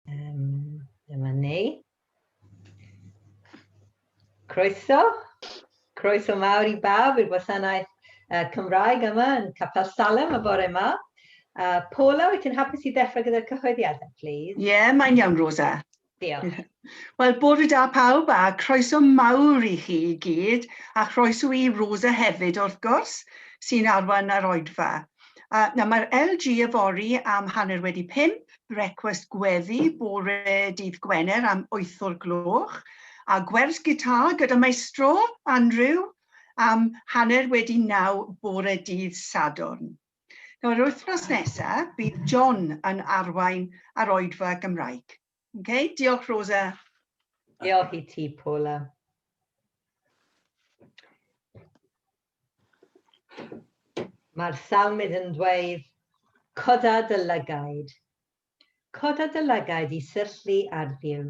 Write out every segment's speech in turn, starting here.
Um, dyma ni. Croeso. Croeso mawr i bawb i'r gwasanaeth uh, Cymraeg yma yn Capel Salem y bore yma. Uh, Paula, wyt ti'n hapus i ddechrau gyda'r cyhoeddiadau, please? Ie, yeah, mae'n iawn, Rosa. Diolch. Wel, bore da pawb a croeso mawr i chi i gyd a chroeso i Rosa hefyd wrth gwrs sy'n arwain ar oedfa. A, na, mae'r LG yfory am hanner wedi pimp brecwast gweddi bore dydd Gwener am wyth o'r gloch, a gwers gitar gyda maestro Andrew am hanner wedi naw bore dydd Sadwrn. Nawr, wythnos nesa, bydd John yn arwain ar oedfa Gymraeg. Okay? Diolch, Rosa. Diolch i ti, Paula. Mae'r salmydd yn dweud, Coda dy lygaid. Coda dy lygaid i syllu ar Dduw.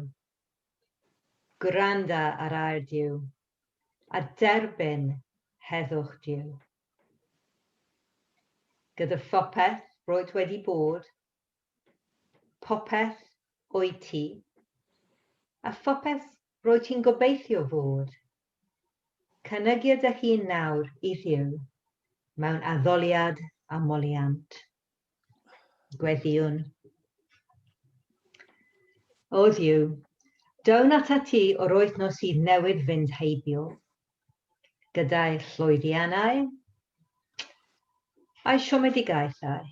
Gwranda ar air Duw, a derbyn heddwch Duw. Gyda phopeth roed wedi bod, popeth o'i ti, a phopeth Rwyt ti'n gobeithio fod. Cynygia dy hun nawr i Dduw mewn addoliad a moliant. Gweddïwn. O Dduw, down ata ti o'r wythnos sydd newydd fynd heibio, gyda'i llwyddiannau a'i siomedigaethau.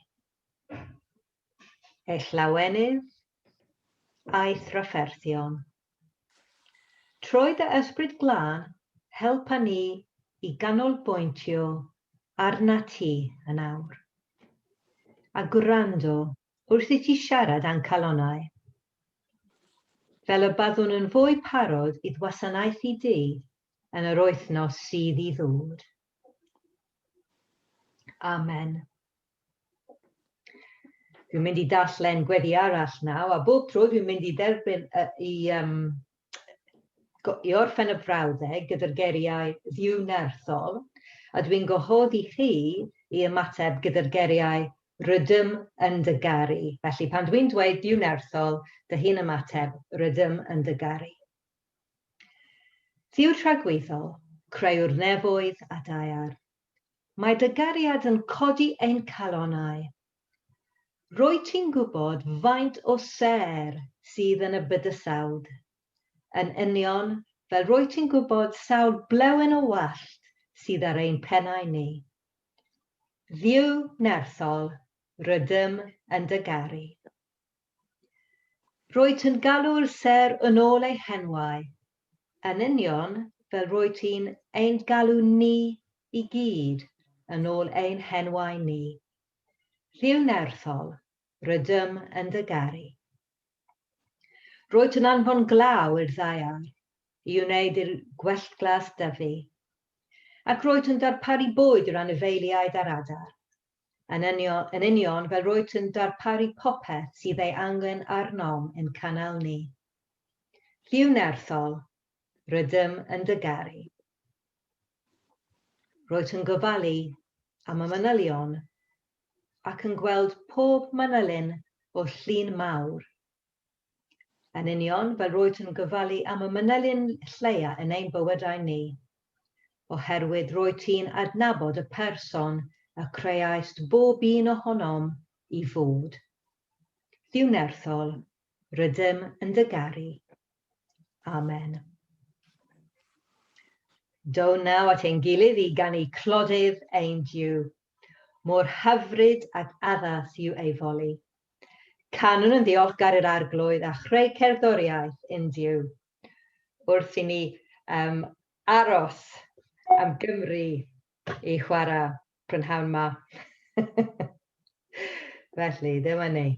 ei llawenydd a'i thrafferthion. Trwy dy Ysbryd Glân, helpa ni i ganolbwyntio arnat ti yn awr, a gwrando wrth i ti siarad â'n calonnau. Fel y byddwn yn fwy parod i ddwasanaethu di yn yr wythnos sydd i ddod. Amen. Dwi'n mynd i darllen gweddi arall naw, a bob tro dwi'n mynd i dderbyn uh, i, um, i orffen y frawddeg gyda'r geriau ddiwnerthol, a dwi'n gwahodd i chi i ymateb gyda'r geriau rydym yn dy garu. Felly pan dwi'n dweud diwnerthol, dy hun ymateb rydym yn dy garu. Ddiw tragwyddol, creuwr nefoedd a daear, Mae dy gariad yn codi ein calonnau. Rwyt ti'n gwybod faint o sêr sydd yn y bydysawd, yn union fel rwyt ti'n gwybod sawl blewyn o wallt sydd ar ein pennau ni. Dduw nerthol, rydym yn dy garu. Rwyt yn galw'r sêr yn ôl ei henwau, yn union fel rwyt ti'n ein galw ni i gyd yn ôl ein henwau ni. Llyw nerthol, rydym yn dy garu. Rwyt yn anfon glaw i'r ddaear i wneud i'r gwelltglas dyfu, ac rwyt yn darparu bwyd i'r anifeiliaid a'r adar. Yn union, yn union fel roet yn darparu popeth sydd ei angen arnom i'n canal ni. Lliw nerthol, rydym yn dy garu. Roet yn gofalu am y manylion ac yn gweld pob manylyn o'r llun mawr. Yn union fel roedd yn gofalu am y manylyn lleia yn ein bywydau ni. Oherwydd roedd ti'n adnabod y person y creaist bob un ohonom i fod. Dduw nerthol, rydym yn dy garu. Amen. Do naw at ein gilydd i ganu clodydd ein Duw. Mor hyfryd ac addas yw ei foli. Canwn yn ddiolchgar i'r Arglwydd a chreu cerddoriaeth in Duw. Wrth i ni um, aros am Gymru i chwarae prynhawn ma. Felly, ddim yn ei.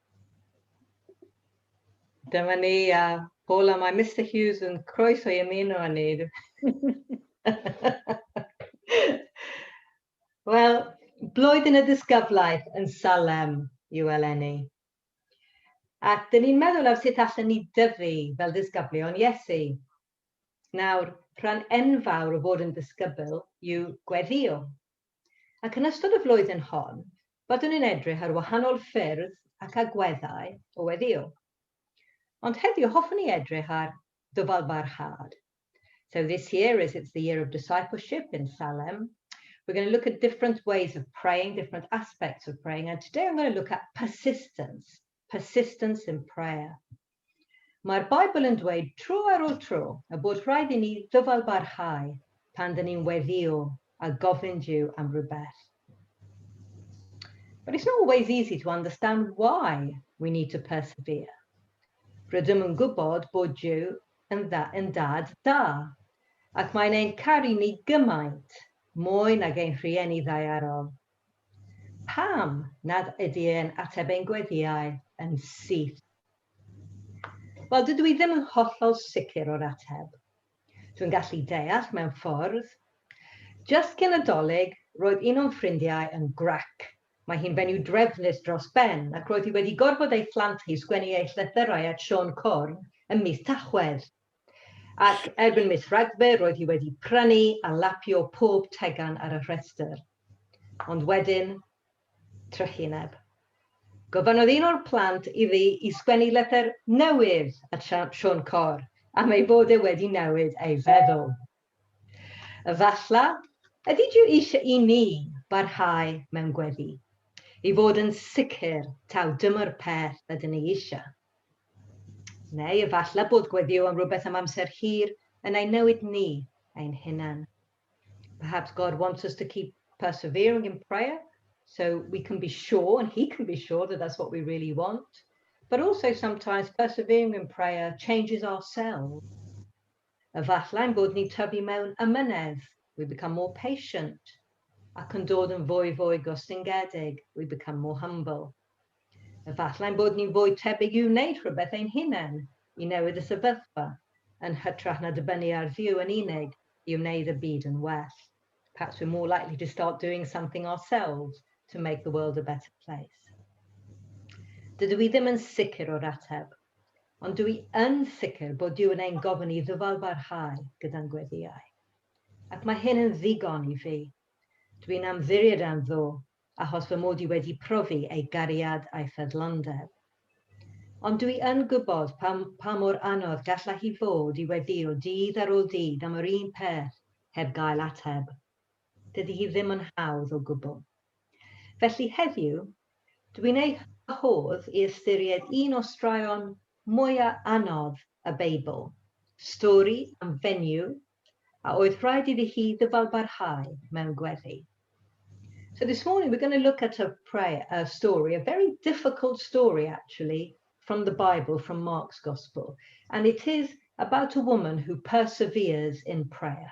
Dyma ni a Paula, mae Mister Hughes yn croeso i ymuno â ni. Wel, blwyddyn y disgyblaeth yn Salem yw eleni. Ac dyn ni'n meddwl ar sut allan ni dyfu fel disgyblion Iesu. Nawr, rhan enfawr o fod yn disgybl yw gweddio. ac yn ystod y flwyddyn hon byddwn yn edrych ar wahanol ffyrdd ac agweddau o weddïo. Ond heddiw hoffwn ni edrych ar ddyfalbarhad. So this year, as it's the year of discipleship in Salem, we're going to look at different ways of praying, different aspects of praying, and today I'm going to look at persistence. persistence in prayer. Mae'r Beibl yn dweud tro ar ôl tro y bod rhaid i ni ddyfalbarhau pan dyn ni'n weddio a gofyn Duw am rhywbeth. But it's not always easy to understand why we need to persevere. Rydym yn gwybod bod Dyw yn, dda, yn dad da, ac mae'n ein caru ni gymaint, mwy nag ein rhieni ddaearol, Pam nad ydy e'n ateb ein gweddiau yn syth? Wel, dydw i ddim yn hollol sicr o'r ateb. Dwi'n gallu deall mewn ffordd. Jyst cyn y Dolig, roedd un o'n ffrindiau yn gwrac. Mae hi'n fenyw drefnus dros ben ac roedd hi wedi gorfod ei phlant hi sgwennu eu llythyrau at Siôn Corn ym mis Tachwedd. Ac erbyn mis Rhagfyr roedd hi wedi prynu a lapio pob tegan ar y rhestr. Ond wedyn, trychineb. Gofynnodd un o'r plant iddi i sgwennu lythyr newydd at Siôn Corr am ei fod e wedi newid ei feddwl. Efallai, ydy Duw eisiau i ni barhau mewn gweddi, i fod yn sicr taw dyma'r peth ydyn ni eisiau? Neu efallai bod gweddio yn rhywbeth am amser hir yn ein newid ni ein hunain. Perhaps God wants us to keep persevering in prayer, so we can be sure, and He can be sure that that's what we really want. But also sometimes persevering in prayer changes ourselves. Efallai ein bod ni'n tyfu mewn amynedd, we become more patient, ac yn dod yn fwy fwy gostyngedig, we become more humble. Efallai ein bod ni'n fwy tebyg i wneud rhywbeth ein hunain, i newid y sefyllfa, yn hytrach na dibynnu ar Dduw yn unig i wneud y byd yn well. Perhaps we're more likely to start doing something ourselves to make the world a better place. Dydw i ddim yn sicr o'r ateb. Ond dw i yn sicr bod Duw yn ein gofyn i ddyfalbarhau gyda'n gweddïau. Ac mae hyn yn ddigon i fi. Dw i'n ymddiried am Dduw, achos fy mod i wedi profi ei gariad a'i ffyddlondeb. Ond dw i yn gwybod pa, pa mor anodd gallai hi fod i weddïo dydd ar ôl dydd am yr un peth heb gael ateb. Dydy hi ddim yn hawdd o gwbl. Felly heddiw, dw i'n ei wahodd i ystyried un o straeon mwya' anodd y Beibl, stori am fenyw a oedd rhaid iddi hi ddyfalbarhau mewn gweddi. So this morning we're going to look at a prayer, a story, a very difficult story actually, from the Bible, from Mark's Gospel, and it is about a woman who perseveres in prayer.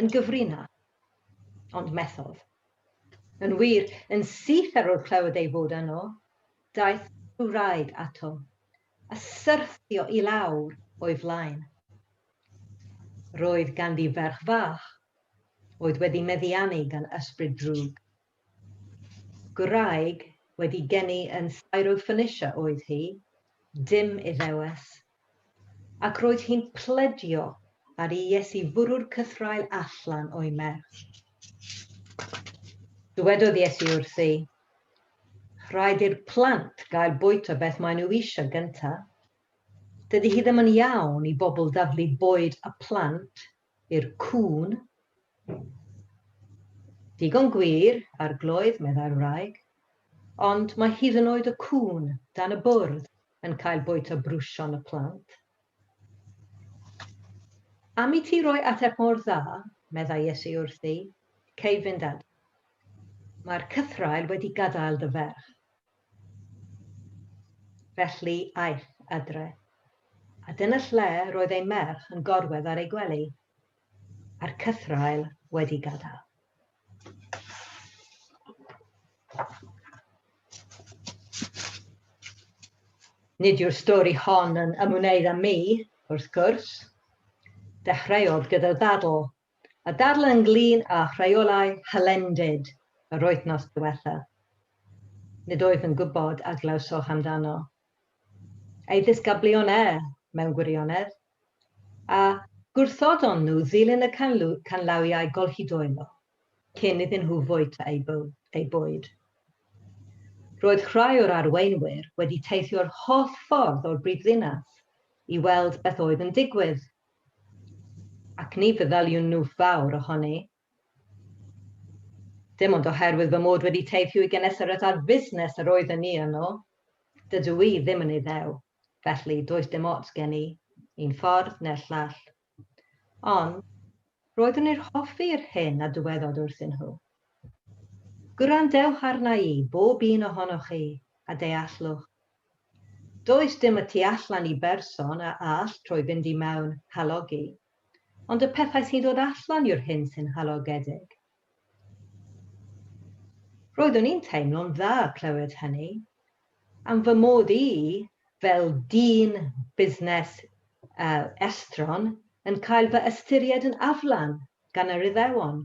yn gyfrin â. Ond methodd. Yn wir, yn syth ar ôl clywed ei fod yno, daeth y wraig ato, a syrthio i lawr o'i flaen. Roedd ganddi ferch fach, oedd wedi meddiannu gan ysbryd drwg. Gwraig wedi geni yn Syrophoenicia oedd hi, dim Iddewes, ac roedd hi'n pledio ar i Iesu fwrw'r cythraul allan o'i merch. Dywedodd Iesu wrthi, Rhaid i'r plant gael bwyta beth maen nhw eisiau gyntaf. Dydy hi ddim yn iawn i bobl daflu bwyd a phlant i'r cŵn. Digon gwir, Arglwydd, meddai'r wraig, ond mae hyd yn oed y cŵn dan y bwrdd yn cael bwyta brwsion y plant. Am i ti roi ateb mor dda, meddai Iesu wrthi, cei fynd adref. Mae'r cythraul wedi gadael dy ferch. Felly aeth adre, a dyna lle roedd ei merch yn gorwedd ar ei gwely, a'r cythraul wedi gadael. Nid yw'r stori hon yn ymwneud â mi, wrth gwrs. Dechreuodd gyda ddadl a dadl ynglŷn â rheolau hylendid yr wythnos diwetha'. Nid wyf yn gwybod a glywsoch amdano. Ei ddisgyblion e, mewn gwirionedd, a gwrthodon nhw ddilyn y canllawiau gollidoelo cyn iddyn nhw fwyta eu bwyd. Roedd rhai o'r arweinwyr wedi teithio'r holl ffordd o'r brifddinas i weld beth oedd yn digwydd Ac ni feddyliwn nhw fawr ohoni. Dim ond oherwydd fy mod wedi teithio i Genesaret ar fusnes yr oeddwn ni yno. Dydw i ddim yn Iddew, felly does dim ots gen i, un ffordd neu'r llall. Ond, roeddwn i'r hoffi yr hyn a dywedod wrthyn nhw. Gwrandewch arna i, bob un ohonoch chi, a deallwch. Does dim y tu allan i berson a all troi fynd i mewn, halogi. Ond y pethau sy'n dod allan yw'r hyn sy'n halogedig. Roeddwn i'n teimlo'n dda clywed hynny, am fy mod i, fel dyn busnes estron, yn cael fy ystyried yn aflan gan yr Iddewon,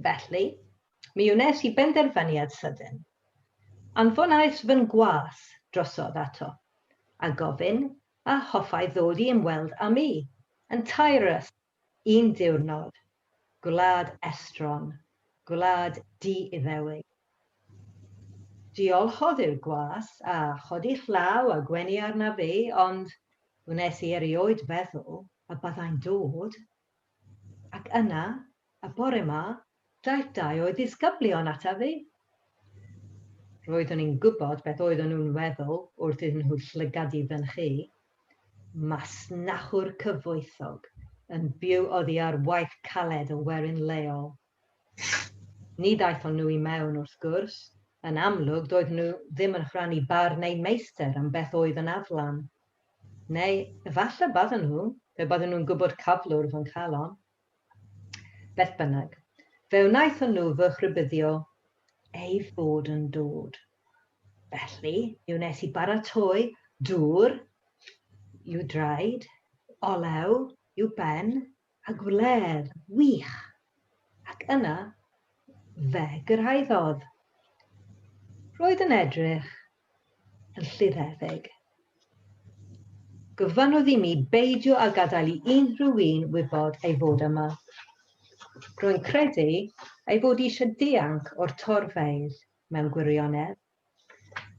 Felly, mi wnes i benderfyniad sydyn. Anfonais fy ngwas drosodd ato, a gofyn a hoffai ddod i ymweld â mi, yn Tyres, un diwrnod, gwlad estron, gwlad di-Iddewig. Diolchodd i'r gwas, a chodi llaw a gwenu arnaf fi, ond wnes i erioed feddwl y byddai'n dod Ac yna, y bore 'ma, daeth dau o'i ddisgyblion ata fi. Roeddwn i'n gwybod beth oedden nhw'n weddol wrth iddyn nhw llygadu fynychu. Masnachwr cyfoethog yn byw oddi ar waith caled y werin leol. Ni ddaethon nhw i mewn, wrth gwrs. Yn amlwg, doedden nhw ddim yn rhannu barn eu meistr am beth oedd yn aflan. Neu efallai bydden nhw, pe bydden nhw'n gwybod cyflwr fy nghalon. Beth bynnag, fe wnaethon nhw fy rhybuddio ei fod yn dod. Felly, mi wnes i baratoi dŵr i'w draed, olew i'w ben, a gwledd wych. Ac yna, fe gyrhaeddodd. Roedd yn edrych yn llirheddig. Gofynnodd i mi beidio a gadael i unrhyw un wybod ei fod yma. Rwy'n credu ei fod eisiau dianc o'r torfeydd mewn gwirionedd.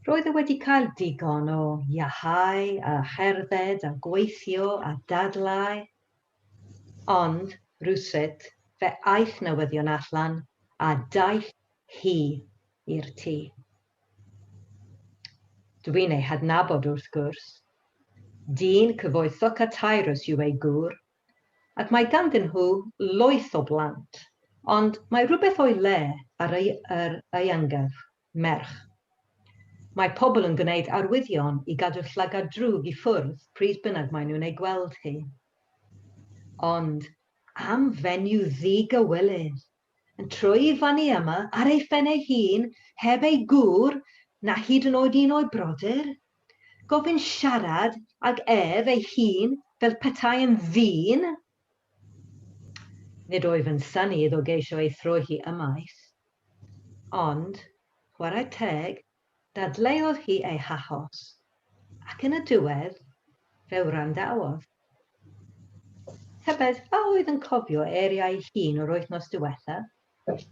Roedd e wedi cael digon o iahau a cherdded a gweithio a dadlau. Ond, rhywsut, fe aeth newyddion allan a daeth hi i'r tŷ. Dw i'n ei hadnabod wrth gwrs. Dyn cyfoethog a taerus yw ei gŵr, ac mae ganddyn nhw loeth o blant, ond mae rhywbeth o'i le ar ei yr ieuangaf, merch. Mae pobl yn gwneud arwyddion i gadw llygad drwg i ffwrdd pryd bynnag maen nhw'n ei gweld hi. Ond am fenyw ddi-gywilydd! yn troi fyny yma ar ei phen ei hun heb ei gŵr na hyd yn oed un o'i brodyr? Gofyn siarad ag ef ei hun fel petai yn ddyn? Nid wyf yn synnu iddo geisio ei throi hi ymaith. Ond, chwarae teg, Dadleuodd hi ei hachos, ac yn y diwedd, fe wrandawodd. Tybed a oedd yn cofio eiriau ei hun o'r wythnos diwethaf?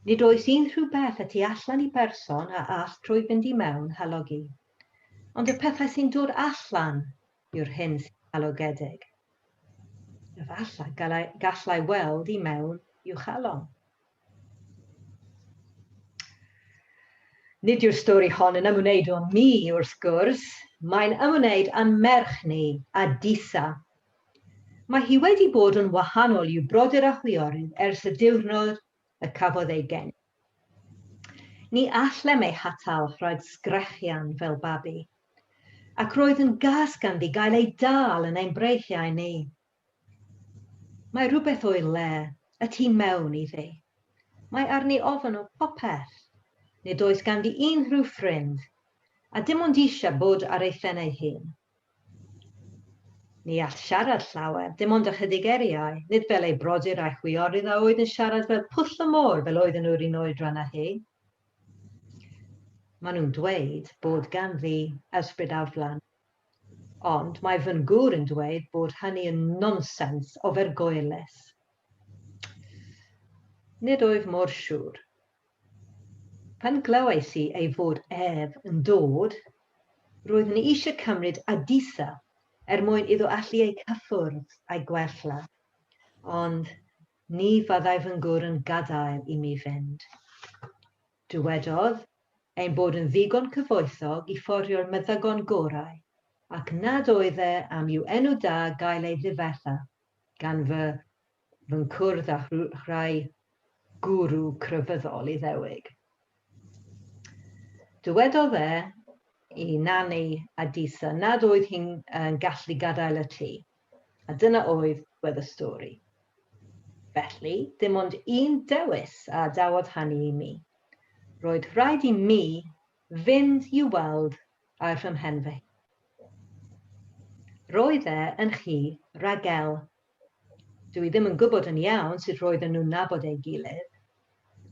Nid oes unrhyw beth y tu allan i berson a all trwy fynd i mewn halogi. Ond y pethau sy'n dod allan yw'r hyn sy'n halogedig. Efallai gallai weld i mewn i'w chalon. Nid yw'r stori hon yn ymwneud â mi, wrth gwrs, mae'n ymwneud â'n merch ni, â Disa. Mae hi wedi bod yn wahanol i'w brodyr a chwiorydd ers y diwrnod y cafodd ei geni. Ni allem ei hatal rhag sgrechian fel babi, ac roedd yn gas ganddi gael ei dal yn ein breichiau ni. Mae rhywbeth o'i le, y tu mewn iddi. Mae arni ofn o popeth. Nid oes ganddi unrhyw ffrind, a dim ond eisiau bod ar ei phen ei hun. Ni all siarad llawer, dim ond ychydig eriau, nid fel ei brodyr a'i chwiorydd a oedd yn siarad fel pwll y môr fel oedden nhw'r un oedran â hi. Maen nhw'n dweud bod ganddi ysbryd aflan. Ond mae fy ngŵr yn dweud bod hynny yn nonsens ofergoelus. Nid wyf mor siŵr. Pan glywais i ei fod ef yn dod, roeddwn i eisiau cymryd Adisa er mwyn iddo allu ei cyffwrdd a'i gwella, ond ni fyddai fy ngŵr yn gadael i mi fynd. Dywedodd ein bod yn ddigon cyfoethog i fforio'r meddygon gorau, ac nad oedd e am i'w enw da gael ei ddifetha gan fy nghwrdd â rhai gwrw crefyddol Iddewig. Dywedodd e i Nani a Disa nad oedd hi'n gallu gadael y tŷ. A dyna oedd gwedd y stori. Felly, dim ond un dewis a adawodd hanu i mi. Roedd rhaid i mi fynd i'w weld a'i rhymhen fy hun. Roedd e yn chi, Ragel. Dw i ddim yn gwybod yn iawn sut roedden nhw'n nabod ei gilydd.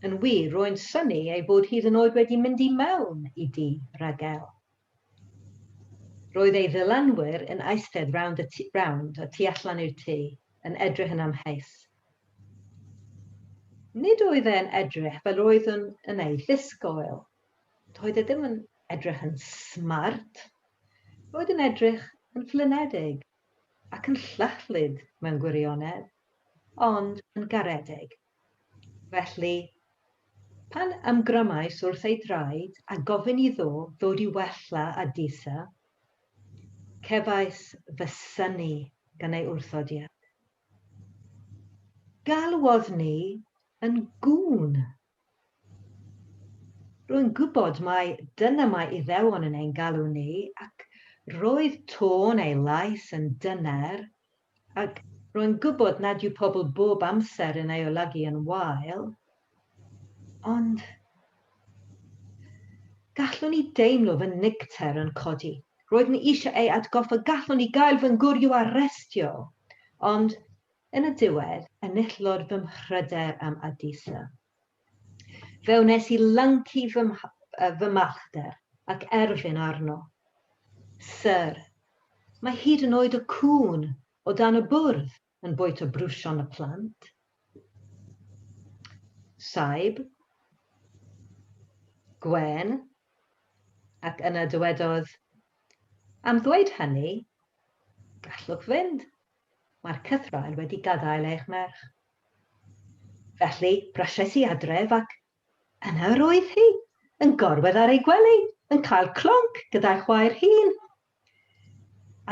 Yn wir, rwy'n synnu ei fod hyd yn oed wedi mynd i mewn i dŷ Ragel. Roedd ei ddylanwyr yn eistedd rownd y tu, rownd a tu allan i'r tŷ, yn edrych yn amheus. Nid oedd e'n edrych fel roeddwn yn ei ddisgoel. Doedd e ddim yn edrych yn smart. Roedd yn edrych yn flynedig ac yn llychlyd mewn gwirionedd, ond yn garedig. Felly, pan ymgramais wrth ei draed a gofyn iddo ddod i wella â Disa, cefais fy synnu gan ei wrthodiad. Galwodd ni yn gŵn! Rwy'n gwybod mai dyna mae Iddewon yn ein galw ni, ac roedd tôn ei lais yn dyner Ac rwy'n gwybod nad yw pobl bob amser yn ei olygu yn wael, ond gallwn i deimlo fy niwcter yn codi. Roeddwn i eisiau ei atgoffa, gallwn i gael fy ngwryw arestio, ond yn y diwedd, enillodd fy mhryder am Adisa. Fe wnes i lyncu fy, uh, fy mallter ac erfyn arno. Sir, mae hyd yn oed y cŵn o dan y bwrdd yn bwyta brwsion y plant. Saib, Gwen, ac yna dywedodd, am ddweud hynny, gallwch fynd. Mae'r cythraul wedi gadael eich merch. Felly, brysais i adref ac yna yr oedd hi, yn gorwedd ar ei gwely, yn cael clonc gyda'i chwaer hun.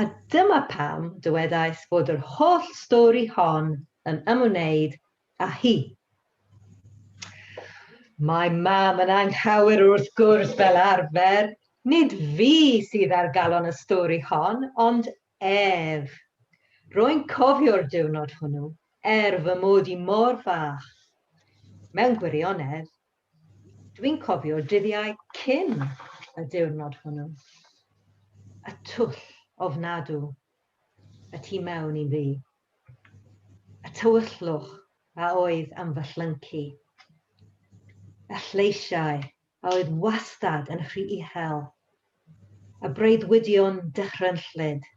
A dyma pam dywedais fod yr holl stori hon yn ymwneud â hi. Mae mam yn anghywir wrth gwrs fel arfer. Nid fi sydd ar galon y stori hon, ond Ef, Rwy'n cofio'r diwrnod hwnnw, er fy mod i mor fach. Mewn gwirionedd, dwi'n cofio'r dyddiau cyn y diwrnod hwnnw. Y twll ofnadw y tu mewn i fi. Y tywyllwch a oedd yn fy llyncu. Y lleisiau a oedd wastad yn rhy uchel, y breuddwydion dychrynllyd,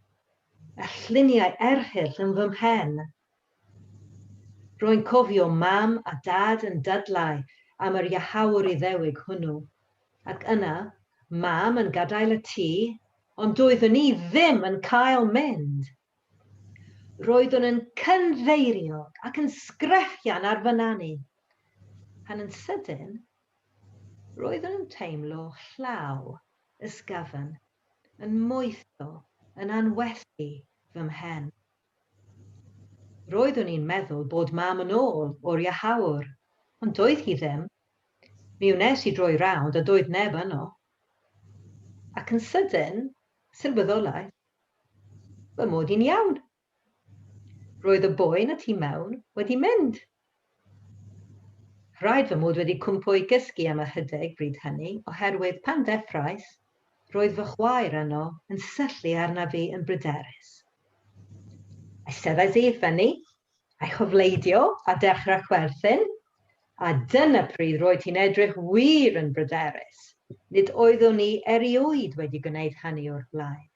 y lluniau erchyll yn fy mhen. Rwy'n cofio Mam a Dad yn dadlau am yr iachawr Iddewig hwnnw, ac yna Mam yn gadael y tŷ, ond doeddwn i ddim yn cael mynd! Roeddwn yn cynfeirio ac yn sgrechian ar fy nanu, pan yn sydyn, roeddwn yn teimlo llaw ysgafn yn moetho yn anwerthu fy mhen. Roeddwn i'n meddwl bod Mam yn ôl o'r iachawr, ond doedd hi ddim. Mi wnes i droi rownd a doedd neb yno. Ac yn sydyn, sylweddolais Fy mod i'n iawn. Roedd y boen y tu mewn wedi mynd. Rhaid fy mod wedi cwmpo i gysgu am ychydig bryd hynny oherwydd pan ddeffrais, roedd fy chwaer yno yn syllu arnaf fi yn bryderus. Eisteddais i i ffynnu I chofleidio a dechrau chwerthin, a dyna pryd roedd hi'n edrych wir yn bryderus, nid oeddwn i erioed wedi gwneud hynny o'r blaen.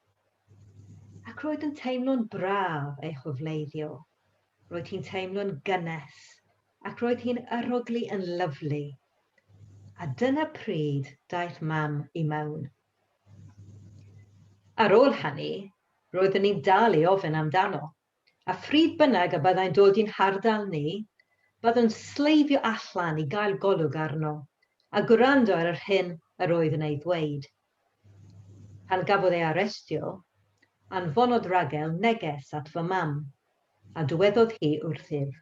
Ac roedd yn teimlo'n braf ei chofleiddio, roedd hi'n teimlo'n gynnes, ac roedd hi'n arogli yn lyfli. A dyna pryd daeth Mam i mewn. Ar ôl hynny, roeddwn i'n dal i ofyn amdano, A phryd bynnag y byddai'n dod i'n hardal ni, byddwn sleifio allan i gael golwg arno, a gwrando ar yr hyn yr oedd yn ei ddweud. Pan gafodd ei arestio, anfonodd Ragel neges at fy mam, a dywedodd hi wrthyf.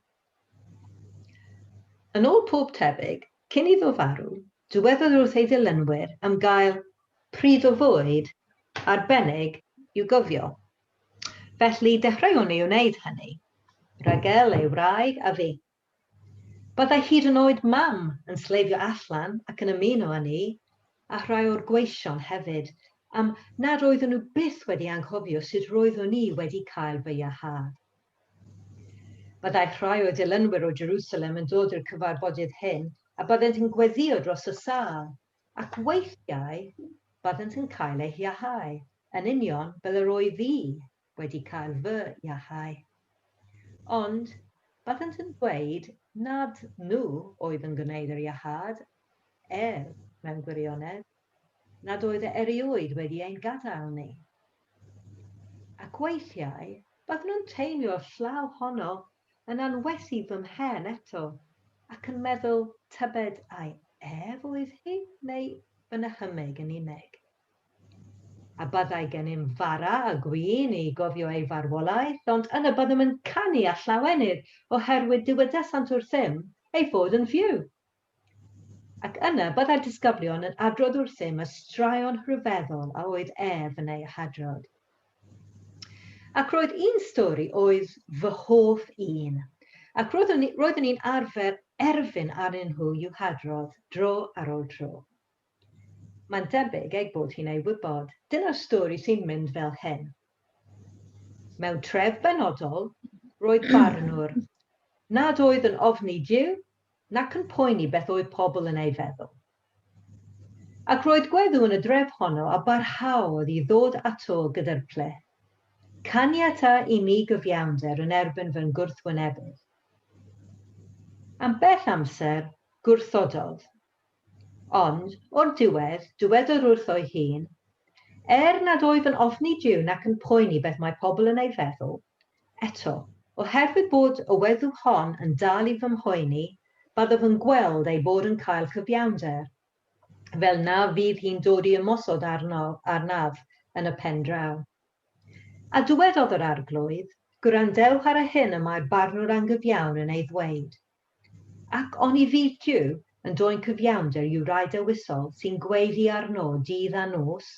Yn ôl pob tebyg, cyn iddo farw, dywedodd wrth ei ddilynwyr am gael pryd o fwyd arbennig i'w gofio. Felly dechreuwn i wneud hynny. Ragel, ei wraig, a fi. Byddai hyd yn oed Mam yn sleifio allan ac yn ymuno â ni, a rhai o'r gweision hefyd, am nad oeddwn nhw byth wedi anghofio sut roeddwn i wedi cael fy iachâd. Byddai rhai o'i ddilynwyr o Jerusalem yn dod i'r cyfarfodydd hyn a byddent yn gweddïo dros y sâl, Ac weithiau byddant yn cael eu hiahau, yn union fel yr oedd fi wedi cael fy iahau. Ond byddant yn dweud nad nhw oedd yn gwneud yr iahâd, er, mewn gwirionedd, nad oedd e erioed wedi ein gadael ni. Ac weithiau byddwn yn teimlo'r llaw honno yn anwes i fy mhen eto, ac yn meddwl tybed ai ef oedd hi neu fy nychymyg yn unig. A byddai gennym fara a gwin i gofio ei farwolaeth, ond yna byddem yn canu a llawenydd, oherwydd dywedasant wrthym ei fod yn fyw. Ac yna byddai'r disgyblion yn adrodd wrthym y straeon rhyfeddol a oedd ef yn eu hadrodd. Ac roedd un stori oedd fy hoff un, ac roeddwn i'n arfer erfyn arnyn nhw i'w hadrodd dro ar ôl tro. Mae'n debyg ei bod hi'n ei wybod. Dyna'r stori sy'n mynd fel hyn. Mewn tref benodol, roedd barnwr nad oedd yn ofni Duw nac yn poeni beth oedd pobl yn ei feddwl. Ac roedd gweddw yn y dref honno a barhaodd i ddod ato gyda'r plith, Caniata i mi gyfiawnder yn erbyn fy ngwrthwynebydd. Am bell amser, gwrthododd, Ond, o'r diwedd, dywedwr wrtho'i hun, er nad oedd yn ofni Duw nac yn poeni beth mae pobl yn ei feddwl, eto, oherwydd bod y weddw hon yn dal i fy mhoeni, byddaf yn gweld ei bod yn cael cyfiawnder, fel na fydd hi'n dod i ymosod arno, arnaf, yn y pen draw. A dywedodd yr Arglwydd, Gwrandewch ar y hyn y mae'r barnwr angyfiawn yn ei ddweud. Ac oni fydd Duw yn dwyn cyfiawnder i'w rai dewisol sy'n gweiddi arno dydd a nos?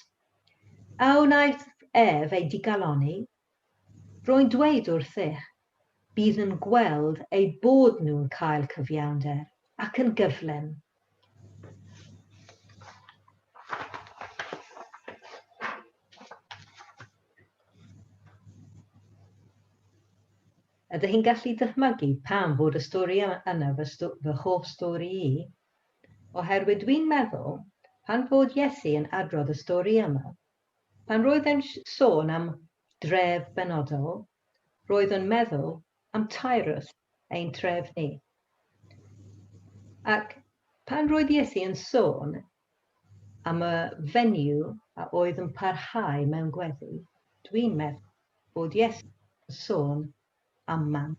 A wnaeth ef eu digalonni? Rwy'n dweud wrthych, bydd yn gweld eu bod nhw'n cael cyfiawnder, ac yn gyflym. Ydych chi'n gallu dychmygu pam fod y stori yna fy fy hoff stori i? Oherwydd dwi'n meddwl, pan fod Iesu yn adrodd y stori yma, pan roedd e'n sôn am dref benodol, roedd yn meddwl am Tyrus, ein tref ni. Ac pan roedd Iesu yn sôn am y venue a oedd yn parhau mewn gweddi, dwi'n meddwl bod Iesu yn sôn am man.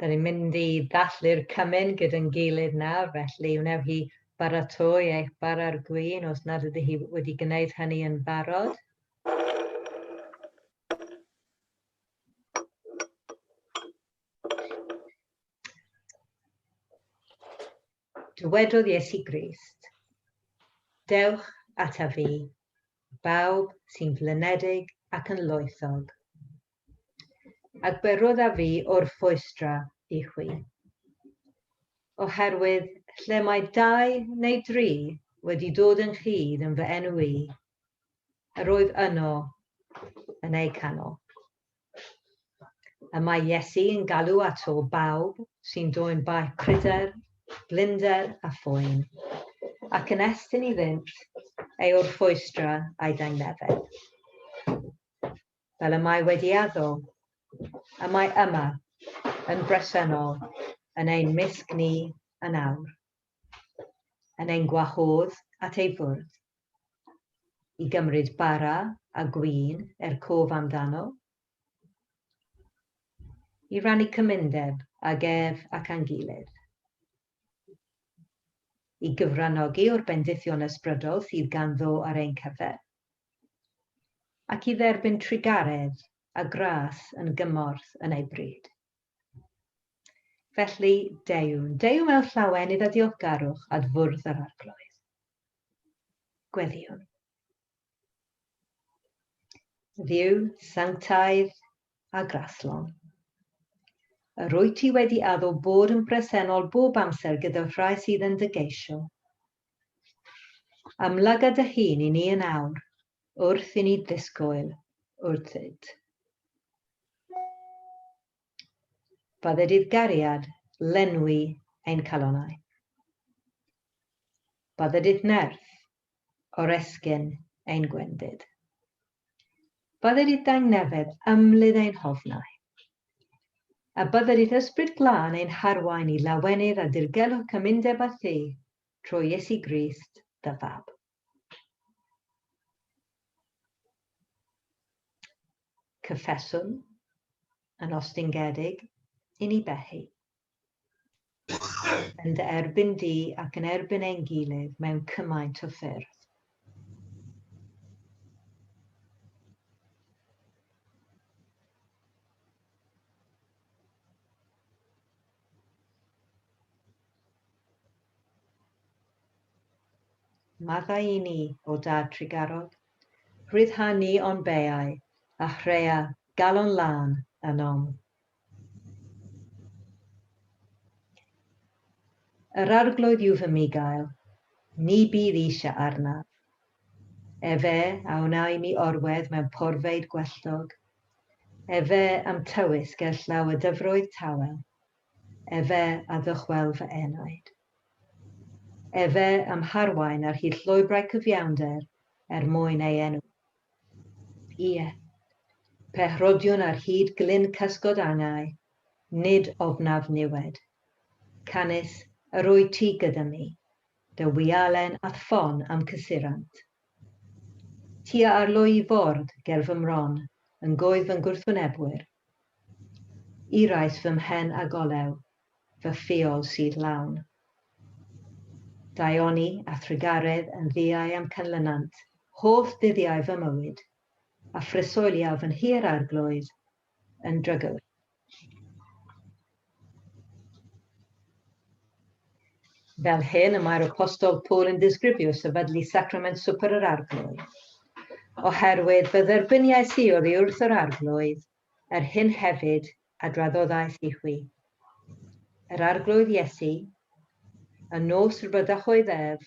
Da ni'n mynd i ddathlu'r cymun gyda'n gilydd nawr, felly wnewch chi baratoi eich bara'r gwin os nad ydych chi wedi gwneud hynny yn barod. Dywedodd Iesu Grist, Dewch ata fi, bawb sy'n flinedig ac yn loethog, a gwyrodd a fi o'r ffwystra i chwi. Oherwydd lle mae dau neu dri wedi dod yn chydd yn fy enw i, yr oedd yno yn eu canol. Y mae Iesu yn galw at ôl bawb sy'n dwyn baich pryder, blinder a phoen, ac yn estyn i ddynt ei orffwystra a'i dangnefedd. Fel y mae wedi addo, y mae yma, yn bresennol, yn ein mysg ni yn awr, yn ein gwahodd at ei fwrdd. i gymryd bara a gwin er cof amdano, i rannu cymundeb ag ef ac â'n gilydd, i gyfranogi o'r bendithion ysbrydol sydd ganddo ar ein cyfer, ac i dderbyn trugaredd a gras yn gymorth yn ei bryd. Felly, deuwn, deuwn mewn llawen iddo diolgarwch ad fwrdd yr arglwydd. Gweddiwn. Dduw, sanctaidd a graslon. Yr wyt ti wedi addo bod yn bresennol bob amser gyda'r rhai sydd yn dy geisio. Amlyga dy hun i ni yn awr, wrth i ni ddisgwyl wrthyt. Fatha dydd gariad, lenwi ein calonau. Fatha dydd nerth, oresgyn ein gwendid. Fatha dydd dangnefedd, ymlydd ein hofnau. A bydda dydd ysbryd glân ein harwain i lawenydd a dirgelwch cymundeb a thi, trwy Iesu Grist, dy fab. Cyffeswn yn ostingedig i ni behi. Yn dy erbyn di ac yn erbyn ein gilydd mewn cymaint o ffyrdd. Maddau i ni, o dad Tregarog. Rhyddha ni o'n beau, a hrea galon lân ynom. Yr arglwydd yw fy migael, ni bydd eisiau arnaf. Efe a wna i mi orwedd mewn porfeydd gwelltog, efe a'm tywys gerllaw y dyfroedd tawel. Efe a ddychwel fy enaid. Efe a'm harwain ar hyd llwybrau cyfiawnder er mwyn ei enw. Ie, pe rhodiwn ar hyd glyn cysgod angau, nid ofnaf niwed. Canys yr wyt ti gyda mi, dy wialen a'th ffon a'm cysurant. Ti a arlwy i fwrdd ger fy mron yn gwyf fy ngwrthwynebwyr, Eraill fy mhen a golew, fy ffiol sydd lawn. Daioni a thrugaredd yn ddiau a'm canlynant holl ddyddiau fy mywyd, a phresoeliaf yn hir Arglwydd yn drygwyr. Fel hyn y mae'r Apostol Paul yn disgrifio sefydlu Sacrament Swper yr Arglwydd. Oherwydd fy dderbyniais i oddi wrth yr Arglwydd, yr hyn hefyd a draddoddais i chwi. Yr Arglwydd Iesu, y nos rybydach oedd ef,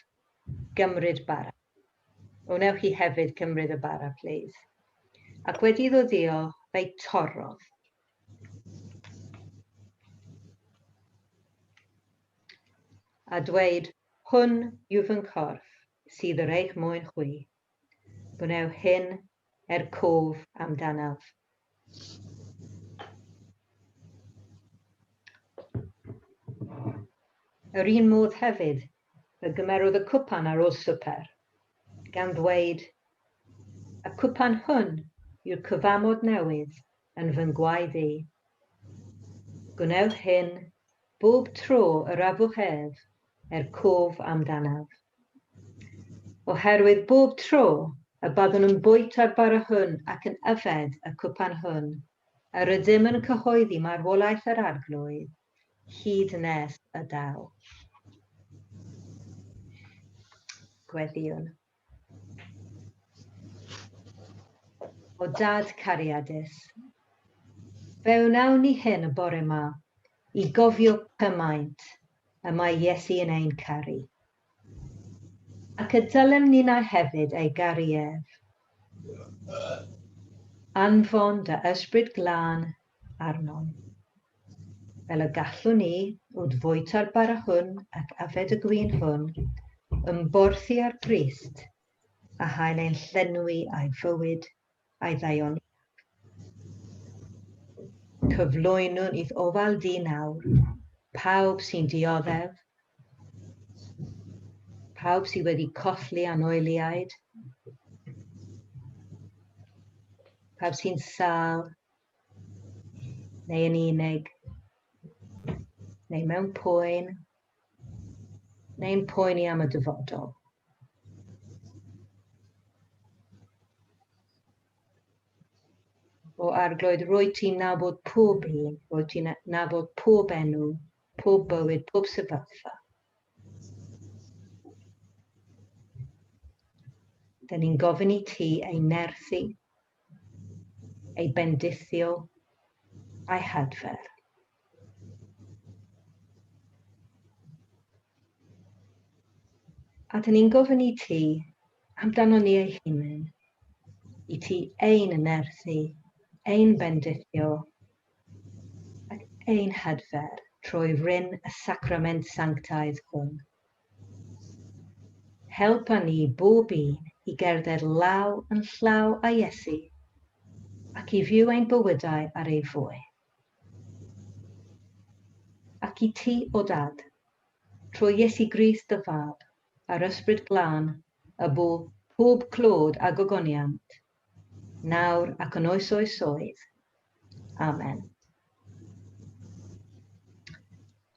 gymryd bara. Wnewch chi hefyd gymryd y bara, plîs? Ac wedi iddo ddiolch, fe'i torrodd, a dweud, Hwn yw fy nghorff sydd yr eich mwyn chwi. Gwneu hyn er cof amdanaf. Yr un modd hefyd, fe gymerodd y cwpan ar ôl swper, gan ddweud, Y cwpan hwn yw'r cyfamod newydd yn fy ngwaed i. Gwnewch hyn bob tro yr afwch ef, er cof amdanaf. Oherwydd bob tro y byddwn yn bwyta'r bara hwn ac yn yfed y cwpan hwn, yr ydym yn cyhoeddi marwolaeth yr Arglwydd, hyd nes y daw. Gweddïwn. O Dad cariadus. Fe wnawn ni hyn y bore 'ma i gofio cymaint y mae Iesu yn ein caru. Ac y dylem ninnau hefyd ei garu ef. Anfon dy Ysbryd Glân arnom. Fel y gallwn ni, wrth fwyta'r bara hwn ac afed y gwin hwn, ymborthi ar Grist, a hael ein llenwi a'i fywyd a'i ddaioni. Cyflwynwn i'th ofal di nawr, pawb sy'n dioddef, pawb sydd wedi colli anoeliaid, pawb sy'n sal, neu yn unig, neu mewn poen, neu'n poeni am y dyfodol. O arglwydd, rwy ti'n nabod pob un, rwy ti'n nabod pob enw, pob bywyd, pob sefyllfa. Dyna ni'n gofyn i ti ei nerthu, ei bendithio a'i hadfer. A dyn ni'n gofyn i ti amdano ni ei hunain, i ti ein ynerthu, ein bendithio ac ein hadfer trwy ryn y sacrament sanctaidd hwn. Helpa ni bob un i gerdded law yn llaw â Iesu ac i fyw ein bywydau ar ei fwy. Ac i ti, o Dad, trwy Iesu Grist dy Fab, a'r Ysbryd Glân, y bu pob clod a gogoniant nawr ac yn oes oesoedd. Amen.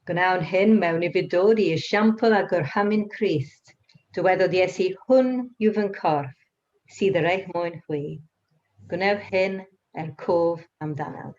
Gwnawn hyn mewn i fudod i esiampl a gorhamu'n Christ. Dywedodd Iesu, hwn yw fy ncorff, sydd yr eich mwyn hwy. Gwnewch hyn er cof amdanaf.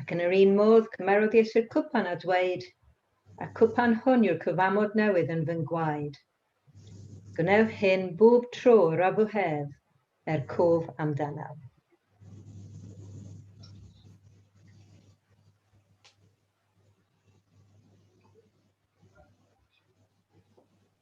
Ac yn yr un modd, cymerwch Iesu'r cwpan a dweud, A cwpan hwn yw'r cyfamod newydd yn fy ngwaed. Gwnewch hyn bob tro yr afu hef, er cof amdanaf.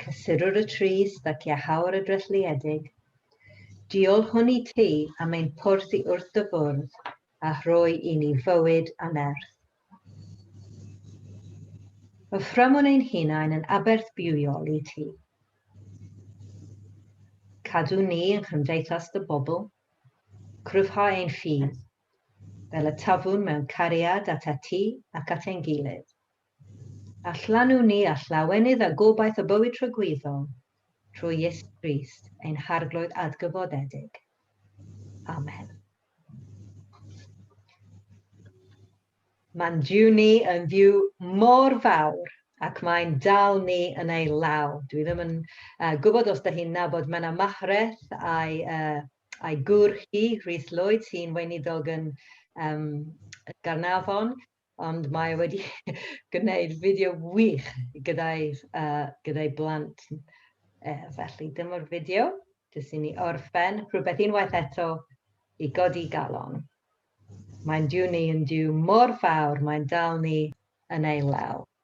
Cysurwr y trist ac iachawr y drethliedig, diolch hwn i ti am ein porth i wrth dy fwrdd a rhoi i ni fywyd anerth. Y fframwn ein hunain yn aberth bywiol i ti. Cadw ni yn chymdeithas dy bobl, cryfhau ein ffydd, fel y tafwn mewn cariad at ati ac at ein gilydd. A llanw ni â llawenydd a gobaith o bywyd tragwyddol, trwy Iesu Grist, ein Harglwydd adgyfodedig. Amen. Mae'n Duw ni yn Dduw mor fawr ac mae'n dal ni yn ei law. Dwi ddim yn uh, gwybod os da chi'n nabod Menna Mahreth a'i, uh, a'i gŵr hi, Rhys Lloyd, sy'n weinidog yn um, Garnafon. ond mae e wedi gwneud fideo wych gyda'i uh, gyda'i blant. E, felly, dyma'r fideo, jyst i ni orffen, rhywbeth unwaith eto i godi galon. Mae'n diw ni yn diw mor fawr, mae'n dal ni yn ei law.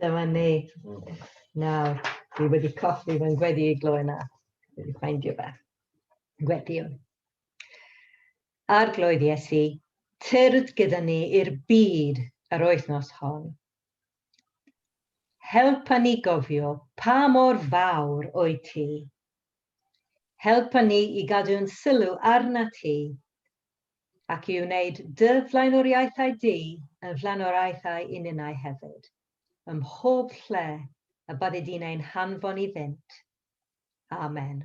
Dyma ni. Nawr, fi wedi colli fy ngweddi i gloi na. Fi wedi ffeindio fe. Gwediwn. Arglwydd Iesu, tyrd gyda ni i'r byd yr wythnos hon. Helpa ni gofio pa mor fawr o'i ti. Helpa ni i gadw'n sylw arna ti ac i wneud dy flaenoriaethau di yn flaenoriaethau i ninnau hefyd, ym mhob lle y byddi di'n ein hanfon iddynt. Amen.